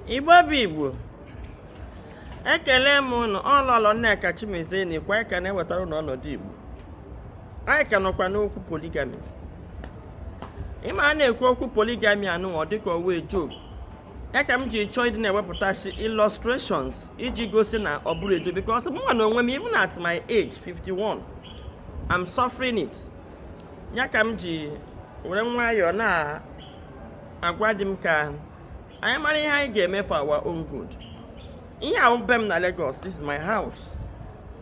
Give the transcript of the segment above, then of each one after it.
igbo bụ igbo ekele m ụnụ ọ lọlọ nneka chimezie na ikwa aka na-ewetara ụnụ ọnọdụ igbo anyị ka nọkwa n'okwu poligami ị ma a na-ekwu okwu poligami anụ ọ dịka ọ wụ a joke ya ka m ji chọọ ịdị na-ewepụtasị illustrations iji gosi na ọ bụrọ a joke because mụ na onwe m even at my age 51 I'm suffering it ya ka m ji were nwayọọ na agwa ndị m ka anyị mara ihe anyị ga-eme for our own good ihe a wụ be m na Lagos this is my house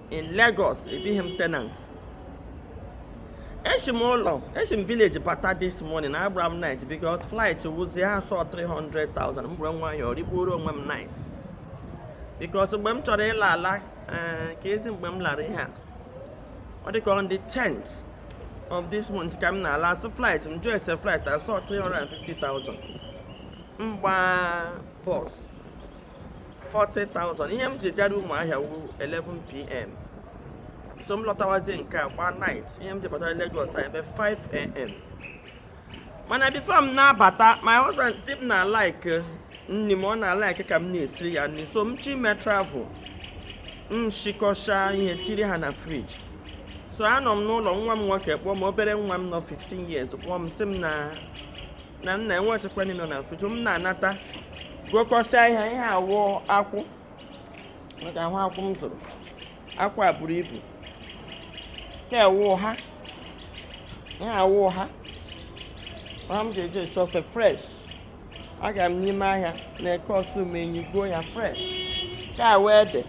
in Lagos ebighị m tenant eshi m ụlọ eshi m village bata this morning agbara m night because flight wụzi ha sị ọ 300,000 m bụrụ nwayọọ rikpuoro onwe m night because mgbe m chọrọ ịla ala eh, ka ezi mgbe m lara ihe a ọ dịka on the 10th of this month ka m na-ala a sị flight m jụọ ese flight a sị ọ 350,000 m gbaa bọs 40,000 ihe m ji gara ụmụahịa wu 11pm so m lọtawazie nke a gbaa night ihe m ji batara Lagos ebe 5am mana before m na-abata my husband di m na like eh, nni m ọ na like ka m na-esiri ya nni so m chi ime travel m shikọcha ihe tiri ha na friji so anọ m n'ụlọ nwa m nwoke kpọọ m obere nwa m nọ 15 years kpọọ m sị m na na nna enwechekwa nni nọ na friji m na-anata gokọsịa ihe ihe a wụ akwụ maka ahụ akwụ m zụrụ akwụ a buru ibu nke a wụ ụha ihe a wụ ụha ụha m ga-eji eshi ofe fresh aga m n'ime ahịa na Eke Osumenyi goo ya fresh nke a wụ ede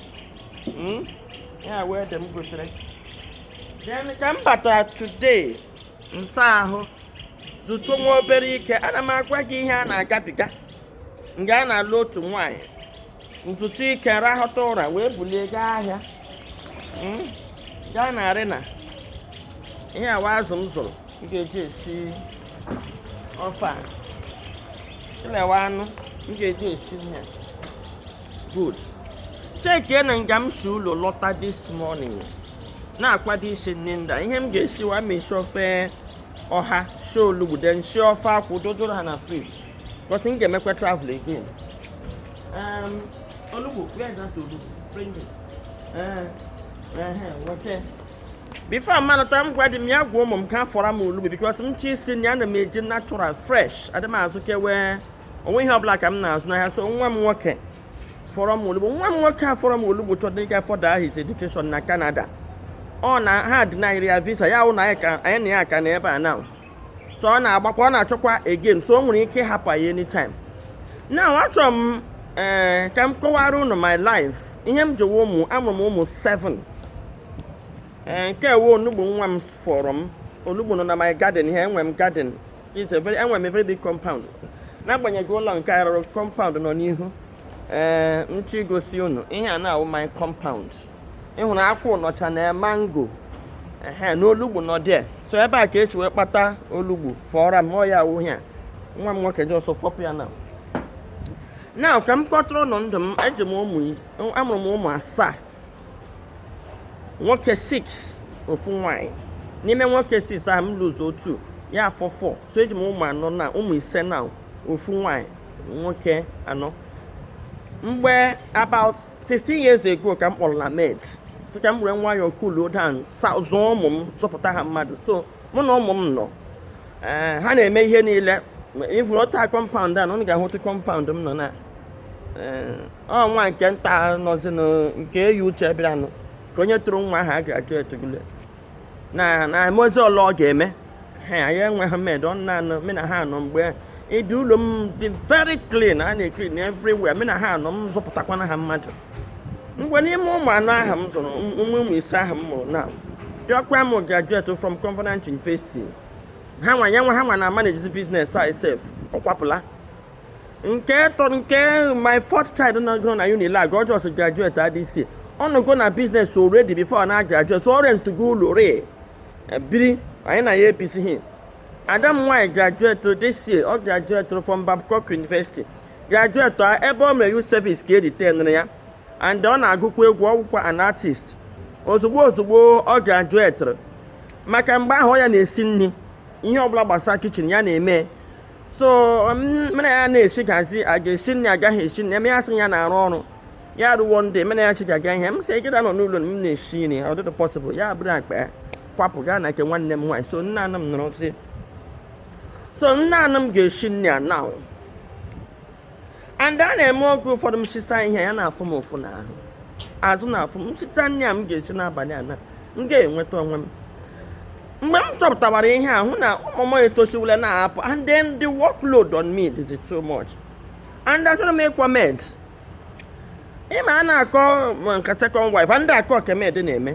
Mm? ihe a wụ ede m gotere then ka m batara today m saa ahụ zutu nwa obere ike ana m agwa gị ihe a na-agabiga nga a na-alụ otu nwaanyị m zutu ike rahụta ụra wee bulie gaa ahịa hmm? gaa na Arena ihe a wụ azụ m zụrụ m ga-eji esi ofe a ịlewa anụ m ga-eji esi ihe good chekie na nga m si ụlọ lọta this morning na-akwado isi nni nda ihe m ga-esiwa ma esi ofe ọha si olugbu then si ofe akwụ dodoro ha na friji because m ga-emekwa travel again. Um, Olugbu, where is that Olugbu? Bring it. Uh, uh, okay. before m anata m gwa di m ya gwa ụmụ m ka fọrọ m olugbu because m chi isi na ana m eji natural fresh adị m azụ kewe onwe ihe ọbụla ka m na-azụ n'ahịa so nwa m nwoke fọrọ m olugbu nwa m nwoke a fọrọ m olugbu chọdị ịga further his education na Canada ọ na ha denyrị ya visa ya wụ na anyị na ya ka nọ ebe a na so ọ na-agbakwa ọ na-achọkwa again so o nwere ike ịhapụ ya anytime now achọrọ m ee eh, ka m kọwara unu my life ihe m jewe ụmụ amụrụ m ụmụ 7 ee eh, nke a wụ onugbu nwa m fọrọ m onugbu nọ na my garden here enwe m garden enwe m a very big compound n'agbanyeghị ụlọ nke a rụrụ compound nọ n'ihu ee m chọ igosi unu ihe a na-awụ my compound ị hụrụ akwụ nọcha na mango ehe na olugbu nọ there so ebe a ka e si wee kpata olugbu fọọra m ya awụ ya nwa m nwoke just pọpụ ya now now ka m kọtụrụ unu ndụ m eji m ụmụ amụrụ m ụmụ asaa nwoke 6 ofu nwanyị n'ime nwoke 6 ahụ m lose two ya afọ 4 so eji m ụmụ anọ now ụmụ ise now ofu nwanyị nwoke anọ mgbe about 15 years ago ka m kpọrọ na maid sị ka m were nwayọọ cool down zụọ ụmụ m zụpụta ha mmadụ so mụ na ụmụ m nọ eh, ha na-eme ihe niile ịvụrụ ọta compound a na ụnụ ga-ahụtụ compound m nọ now eh, ọ nwa nke nta nọzinụ nke eyi uche bịaranụ ka onye tụrụ nwa ahụ agraduategule na na emezi ọla ọ ga-eme ha anyị enweghị maid ọ naanị me na ha nọ mgbe ị bịa ụlọ m dị very clean a na-eclean everywhere me na ha nọ m zụpụtakwana ha mmadụ mgbe n'ime ụmụ anọ ahụ m zụrụ eh ụmụ ise ahụ m mụrụ now diọkpa m graduate from Covenant University ha nwa ya nwa ha nwa na manage business a sef ọ kwapụla nke tọ nke my fourth child nọgoro na Unilag ọ just graduate this year ọ nọgo na business already before na graduate so ọ rentugo ụlọ re biri anyị na ya ebizighị ada m nwaanyị graduate this year ọ graduate from Babcock University graduate a ebe ọ mere youth service ka e retainere ya and ọ na-agụkwa egwu ọ wụkwa an artist ozugbo ozugbo ọ graduate maka mgbe ahụ ọ ya na-esi nri ihe ọbụla gbasara kitchen ya na-eme so me na ya na-esegazi a ga-esi nri agaghị esi nri eme ya sị ya na-arụ ọrụ ya ruo one day me na ya segaga ihe m sị gị da nọ n'ụlọ m na-esi nri ọ dịtụ possible ya buru akpa kwapụ gaa na nke nwanne m nwaanyị so naanị m nọrọ sị so naanị m ga-esi nri a now and a na-eme oge ụfọdụ m sisaa ihe ya na-afụ m ụfụ n'ahụ azụ na-afụ m sisaa nri a m ga-esi n'abalị a na m ga-enweta onwe m mgbe m chọpụtawara ihe a hụ na ụmụ m etosiwule na-apụ and then the workload on me is too much and achọrọ m ịkpọ maid ị ma a na-akọ nke second wife and a kọọ ke maid na-eme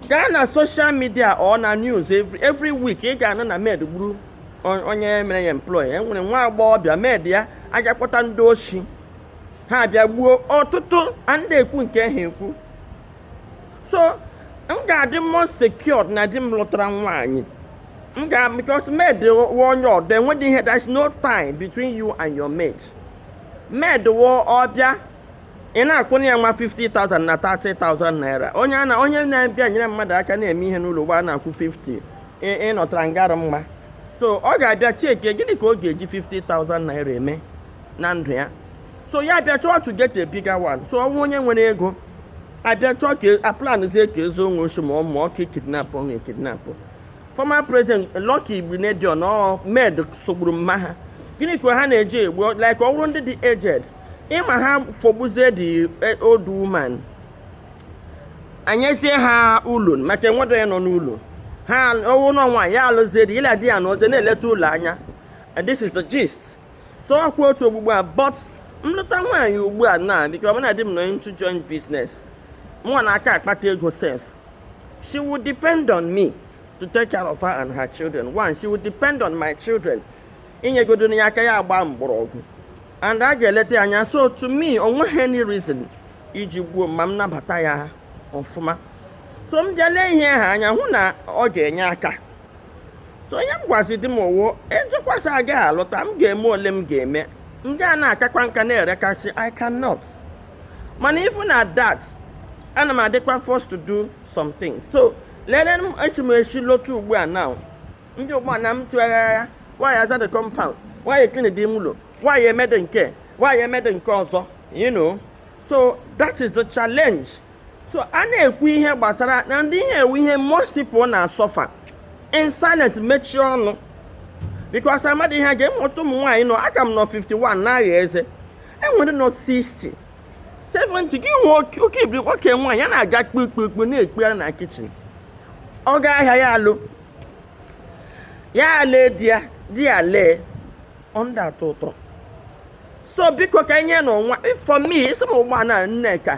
gaa na social media or na news every week ị ga-anụ na maid gburu onye mere ya employ e nwere nwa agbọghọbịa maid ya aga kpọta ndị oshi ha bịa gbuo ọtụtụ anadị ekwu nke ha ekwu so m ga-adị more secured na di m lụtara nwaanyị m ga because maid wụ onye ọdọ enweghị ihe there is no tie between you and your maid maid wụ ọbịa ị na-akwụnye ya nwa 50,000 na 30,000 naira onye na-abịa nyere mmadụ aka na-eme ihe n'ụlọ ugbu a na-akwụ 50 ị nọtara nga rị mma so ọ ga-abịa cheke gịnị ka ọ ga-eji 50,000 naira eme na ndụ ya so ya abịa chọọ to get a bigger one so ọ wụrụ onye nwere ego abịa chọọ ka aplanzie ka ezuo ya oshi ma ọ wụ ka kidnap ọ na-ekidnap former president Lucky Igbinedion ọ maid sụgburu mma ha gịnị ka ha na-eji egbu like ọ bụrụ ndị dị aged ị ma ha fọgbuzie the old woman anyezie ha ụlọ maka enwedị onye nọ n'ụlọ ha ọ wụ nwa nwaanyị ya alụzie di ya la di ya anọzie na-eleta ụlọ anya and this is the gist so ọkwa otu ugbugbu a but m lụta nwaanyị ugbu a na because mụ na di m nọ into joint business mụnwa na-aka akpata ego sef she would depend on me to take care of her and her children one she would depend on my children i nyegodu ya aka ya agba mgbọrọgwụ and a ga-eleta ya anya so to me o nweghị any reason iji gbuo m ma m nabata ya ọfụma so m bịa lee ihe ahụ anya hụ na ọ ga-enye aka so ihe m gwazi di m ọ wụ ị jụkwa sị agaghị alụta m ga-eme ole m ga-eme m ga na-akakwa nka na-erekasị I cannot mana even at that ana m adịkwa forced to do some things so lee m eshi m ezi lọta ugbu a now ndị ugbu a na m tụgharịa nwaanyị aza the compound nwaanyị clean dị ime ụlọ nwaanyị emede nke a nwaanyị emede nke ọzọ you know so that is the challenge so a na-ekwu ihe gbasara na ndị ihe a wụ ihe most people na-asuffer in silent mechie ọnụ because amadị ihe ga-eme ọtụtụ ụmụ nwaanyị nọ aka m nọ 51 na-agha eze e nwere ndị nọ 60 70 gị nwee oke ibiri nwoke nwaanyị ya na-aga kpukpukpu na-ekpegharị na kitchen ọ gaa ahịa ya alọ ya lee di ya di ya lee ọ nadị atọ ụtọ so biko ka enye na ọnwa for me ị sị m ugbu a Nneka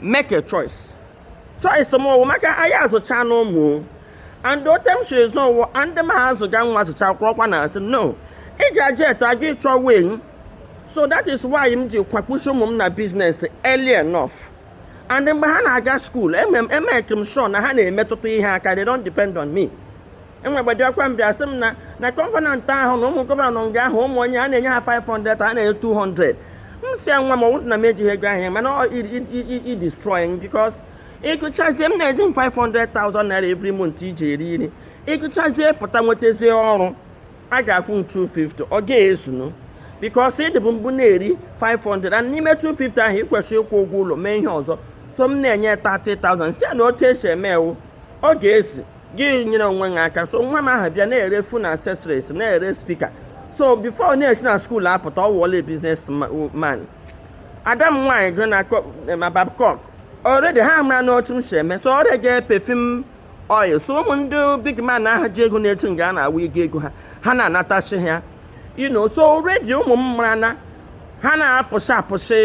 make a choice choice m wụ maka anyị azụchaana ụmụ and otu m siri zụọ nwa ndị m ha azụga nwa azụcha kwụrọkwa na asị no ị ga-aje eto aga ịchọ wing so that is why m ji kwakpuchi ụmụ m na business early enough and mgbe ha na-aga school emeke m sure na ha na-emetụta ihe aka they don't depend on me enwegbedi ọkwa m bịa sị m na na Covenant ahụ na ụmụ governor nga ahụ ụmụ onye a na-enye ha 500 a na-enye 200 m sị nwa m ọ wụdụ na m ejighị ego ahụ mana i destroying because ị gụchazie m na-eji m 500,000 naira every month ị ji eri nri ị gụchazie pụta nwetazie ọrụ a ga-akwụ m 250 ọ ga-ezunu because ị dịbu mbụ na-eri 500 and n'ime 250 ahụ ị kwesịrị ịkwụ ụgwọ ụlọ mee ihe ọzọ so m na-enye 30,000 site na otu e si eme wụ ọ ga-esi gị nyere onwe gị aka so nwa m ahụ bịa na-ere phone accessories na-ere speaker so before na-esi na school apụta ọ wụọla business man ada m nwaanyị gụrụ na eh, ma Babcock already ha marana otu m si eme so ọ rega perfume oil so ụmụ ndị big man ahụ ji ego na-etu nga a na-awụ ego ego ha ha na-anatasị ha you know so already ụmụ m mara na ha na-apụsị apụsị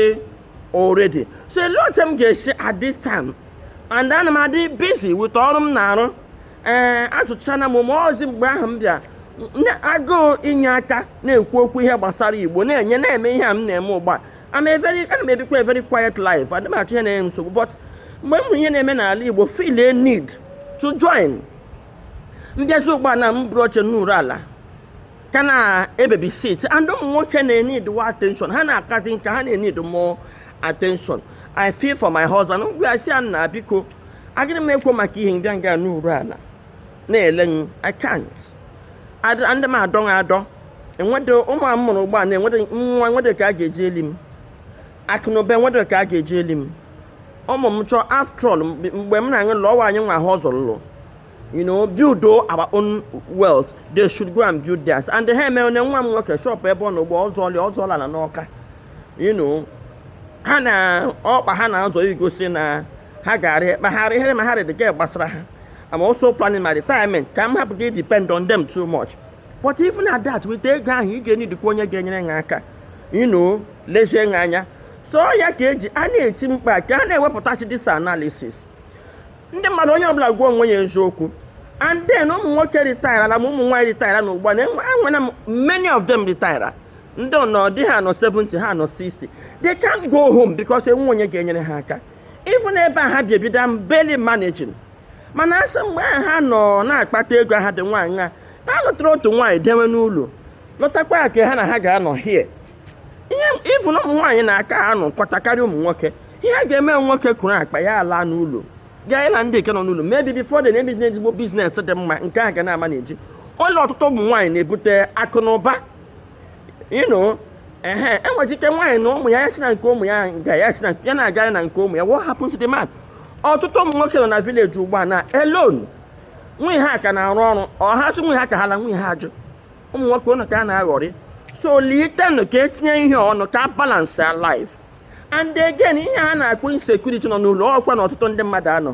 already so elee otu m ga-esi at this time and ana m adị busy with ọrụ m na-arụ ee eh, azụchana m ụmụ ọzi mgbe ahụ m bịa agụụ inye aka na-ekwu okwu ihe gbasara Igbo na-enye na-eme ihe a m na-eme ugbu a ana m ebikwa a very quiet life adị m achọ ihe na-enye nsogbu but mgbe m hụrụ ihe na-eme n'ala Igbo feel a need to join m bịazi ugbu a na m buru oche nọrụ ala ka na-ebabysit and ụmụ nwoke na-enidiwa attention ha na-akazi nka ha na-enidi more attention I feel for my husband m gwa ya sị ya nna biko agịrị m ekwo maka ihe m bịa nga nọrụ ala na-ele m I can't ndị m adọ m adọ enwede ụmụ a mụrụ ugbu a na-enwede nwa enwede ka a ga-eji eli m akụnụba enwede ka a ga-eji eli m ụmụ m chọọ after all mgbe m na-aṅụ lụọ anyị nwa a hustle lụ you know build our own wealth they should go and build theirs and ha emena ya nwa m nwoke shop ebe ọ nọ ugbu a ọ zụli ọ zụọla ala n'Ọka you know ha na ọkpa ha na-azọ igosi na ha gara kpagharị ihe ma ha dị ka gbasara ha I'm also planning my retirement ka m hapụ ịdepend on them too much but even at that with ego ahụ ị ga-enidikwa onye ga-enyere ha aka you know lezie ha anya so ya ka e ji a na-eti mkpu ka a na-ewepụtasị this analysis ndị mmadụ onye ọbụla gwa onwe ya eziokwu and then ụmụ nwoke retire na ụmụ nwaanyị retire na ugbu a na enwere m many of them retire ndị ọnọ dị ha nọ 70 ha nọ 60 they can't go home because enwe onye ga-enyere ha aka even ebe a ha bi ebi they barely managing mana a sị mgbe ahụ ha nọ na-akpata ego ha dị nwaanyị a na-alụtara otu nwaanyị dewe n'ụlọ lụtakwa nke ha na ha ga-anọ here ihe ị fụ na ụmụ nwaanyị na-aka anọkọta karịa ụmụ nwoke ihe a ga-eme nwoke kọrọ akpa ya laa n'ụlọ gaa ịlụ ndị nke nọ n'ụlọ maybe before dị na-emeji ezigbo business dị mma nke a ga na-ama na-eji ụlọ ọtụtụ ụmụ nwaanyị na-ebute akụ na ụba ịnụ ehe e nwere ike nwaanyị na ụmụ ya ya china nke ụmụ ya nke ya china ya na-agara na nke ụmụ ya what happened to the man ọtụtụ ụmụ nwoke nọ na village ugbu a na alone nwunye ha ka na-arụ ọrụ ha sị nwunye ha ka ha la nwunye ha ajụ ụmụ nwoke ụnụ ka a na-aghọrị so litenụ ka e tinye ihe ọnụ ka balance life and again ihe ha na-akpọ insecurity nọ n'ụlọ ọ kwa na ọtụtụ ndị mmadụ a nọọ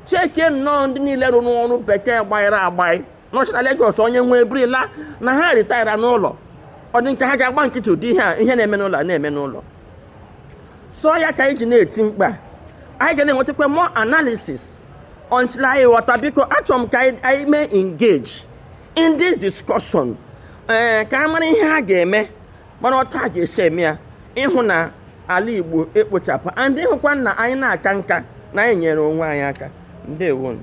chekie nnọọ ndị niile rụrụ ọrụ bekee gbanyere agbanyị nọchi na Lagos onye nwe eburila na ha retire n'ụlọ ọ dị ka ha ga-agba nkịtị ụdị ihe a ihe na-eme n'ụlọ a na-eme n'ụlọ so ya ka anyị ji na-eti mkpu anyị ga na-enwetakwa more analysis until anyị ghọta biko achọrọ m ka anyị mee engage in this discussion ee eh, ka a mara ihe a ga-eme mara otu a ga-esi eme ya ịhụ na ala Igbo ekpochapụ and ịhụkwa na anyị na-aka nka na anyị nyere onwe anyị aka ndewonụ